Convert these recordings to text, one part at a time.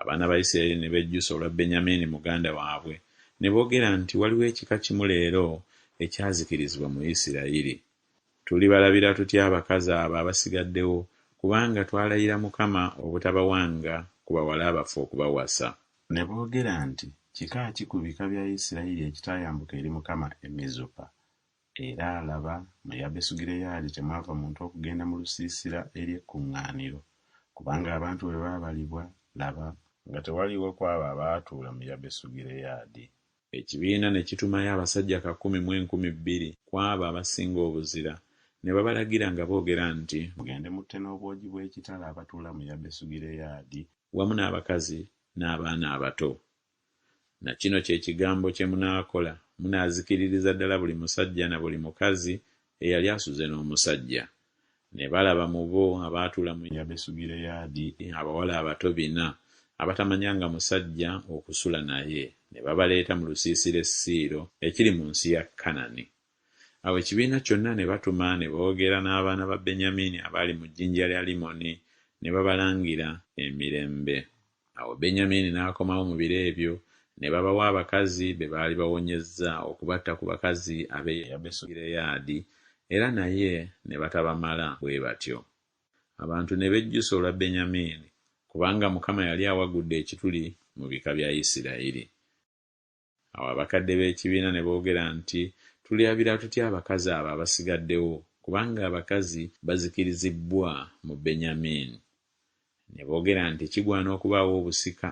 Abaana ba Isiraeri ne bejjusa olwa Benyamiini muganda waabwe, ne boogera nti, Waliwo ekika kimu leero ekyazikirizibwa mu Isiraeri. Tulibalabira tutya abakazi abo abasigaddewo, kubanga twalayira Mukama obutabawanga ku bawala baffe okubawasa? Ne boogera nti, Kika ki ku bika bya Isiraeri ekitaayambuka eri Mukama e Mizupa, Era laba, mu Yabesugireyaadi temwava muntu okugenda mu lusiisira eri ekkuŋŋaaniro, kubanga abantu bwe baabalibwa, laba, nga tewaliiwo ku abo abaatuula mu Yabesugireyaadi, ekibiina ne kitumayo abasajja kakumi mu enkumi bbiri ku abo abasinga obuzira, ne babalagira nga boogera nti. Mugende mutte n'obwogi bw'ekitala abatuula mu Yabesugireyaadi. Wamu n'abakazi n'abaana abato. Na kino kye kigambo kye munaakola, munaazikiririza ddala buli musajja na buli mukazi eyali asuze n'omusajja. Ne balaba mu bo abaatuula mu Yabesugireyaadi abawala abato bina, abatamanyanga musajja okusula naye, ne babaleeta mu lusiisira e Siiro ekiri mu nsi ya Kanani. Awo ekibiina kyonna ne batuma ne boogera n'abaana ba Benyamini abaali mu jjinja lya Limoni, ne babalangira emirembe. Awo Benyamiini n'akomawo mu biro ebyo, ne babawa abakazi be baali bawonyezza okubatta ku bakazi ab'e Yabesugireyaadi, era naye ne batabamala bwe batyo. Abantu ne bejjusa olwa Benyamiini, kubanga Mukama yali awagudde ekituli mu bika bya Isirayiri. Awo abakadde b'ekibiina ne boogera nti, Tulyabira tutya abakazi abo abasigaddewo, kubanga abakazi bazikirizibbwa mu Benyamiini? Ne boogera nti, Kigwana okubaawo obusika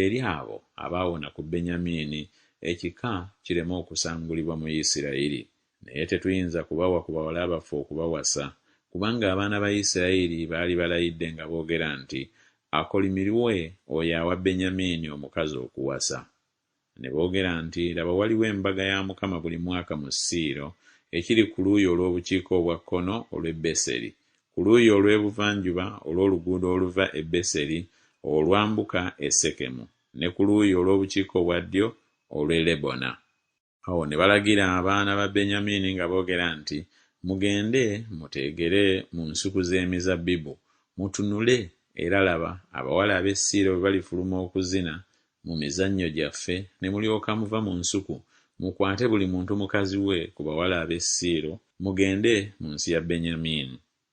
eri abo abaawona ku Benyamiini, ekika kireme okusangulibwa mu Isirayiri. Naye tetuyinza kubawa ku bawala baffe okubawasa, kubanga abaana ba Isirayiri baali balayidde nga boogera nti, Akolimirwe oyo awa Benyamiini omukazi okuwasa. Ne boogera nti, Laba waliwo embaga ya Mukama buli mwaka mu Siiro, ekiri ku luuyi olw'obukiika obwa kkono olw'e Beseri, ku luuyi olw'ebuvanjuba olw'oluguudo oluva e Beseri olwambuka e Sekemu, ne ku luuyi olw'obukiika obwa ddyo olw'e Lebona. Awo ne balagira abaana ba Benyamiini nga boogera nti, Mugende muteegere mu nsuku z'emizabbibu, mutunule, era laba, abawala ab'e Siiro bwe balifuluma okuzina mu mizannyo gyaffe, ne mulyoka muva mu nsuku, mukwate buli muntu mukazi we ku bawala ab'e Siiro, mugende mu nsi ya Benyamiini.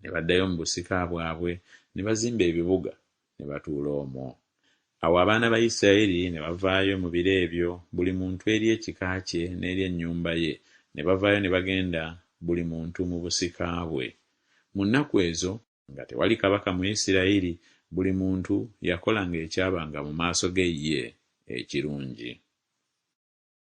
Ne baddayo mu busika bwabwe, ne bazimba ebibuga, ne batuula omwo. Awo abaana ba Isiraeri ne bavaayo mu biro ebyo, buli muntu eri ekika kye n'eri ennyumba ye, ne bavaayo ne bagenda, buli muntu mu busika bwe. Mu nnaku ezo, nga tewali kabaka mu Isiraeri, buli muntu yakolanga ekyabanga mu maaso ge ye ekirungi.